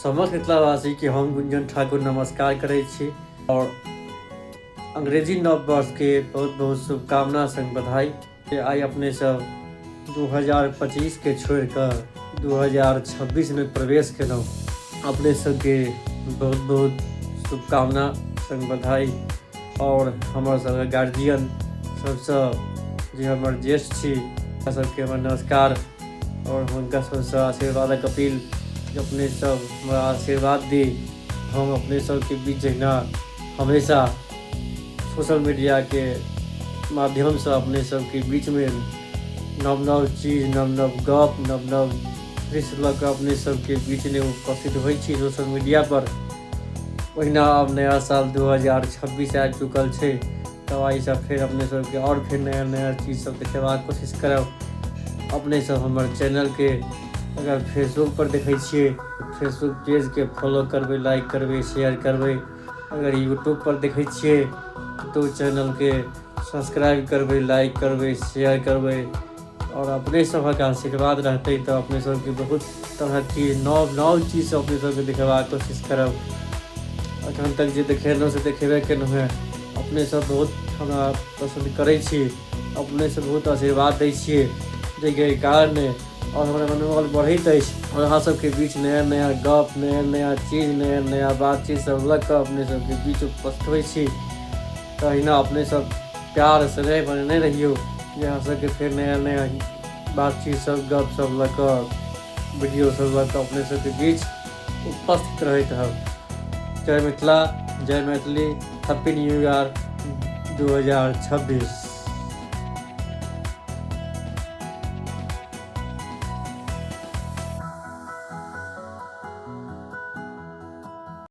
समस्त मिथिलावासी के हम गुंजन ठाकुर नमस्कार करै छी और अंग्रेजी नव वर्ष के बहुत बहुत शुभकामना संग बधाई जे आइ अपने सब 2025 के छोड़ कऽ 2026 में प्रवेश केलहुँ अपने सबके बहुत बहुत शुभकामना संग बधाई और हमर सबके गार्जियन सबसँ जे हमर ज्येष्ठ छी हुनका सबके हमर नमस्कार आओर हुनका सबसँ आशीर्वादक अपील अपने सब हमरा आशीर्वाद दी हम अपने सबके बीच जहिना हमेशा सोशल मीडियाके माध्यमसँ अपने सबके बीचमे नव नव चीज नव नव गप नव नव दृश्य लऽ कऽ अपने सबके बीचमे उपस्थित होइ छी सोशल मीडियापर ओहिना आब नया साल दू हजार छब्बीस आबि चुकल छै तो आई सब फिर अपने सब के और फिर नया नया चीज़ सब देखेबाक कोशिश करब अपने सब हमर चैनल के अगर फेसबुक पर देखे छे फेसबुक पेज के फॉलो करबे लाइक करबे शेयर करबे अगर यूट्यूब पर देखे छे तो चैनल के सब्सक्राइब करबे लाइक करबे शेयर करबे आओर अपने सभक आशीर्वाद रहतै तऽ अपने सभके बहुत तरहके नव नव चीज अपने सभके देखेबाक कोशिश करब अखन तक जे देखेलहुँ से देखेबे केलहुँ हेँ अपने सब बहुत हमरा पसन्द करै छी अपने से बहुत आशीर्वाद दै छियै जाहिके कारण आओर हमरा मनोबल बढ़ैत अछि आओर अहाँ सबके बीच नया नया गप नया नया चीज नया नया बातचीत सब लऽ कऽ अपने सबके बीच उपस्थित होइ छी तहिना अपने सब प्यार से रहे बने रहियो यहाँ सबके फिर नया नया बातचीत सब गप सब लऽ कऽ वीडियो सब लऽ कऽ अपने सबके बीच उपस्थित रहैत हब जय मिथिला जय मैथिली हैप्पी न्यू ईयर दू हजार छब्बीस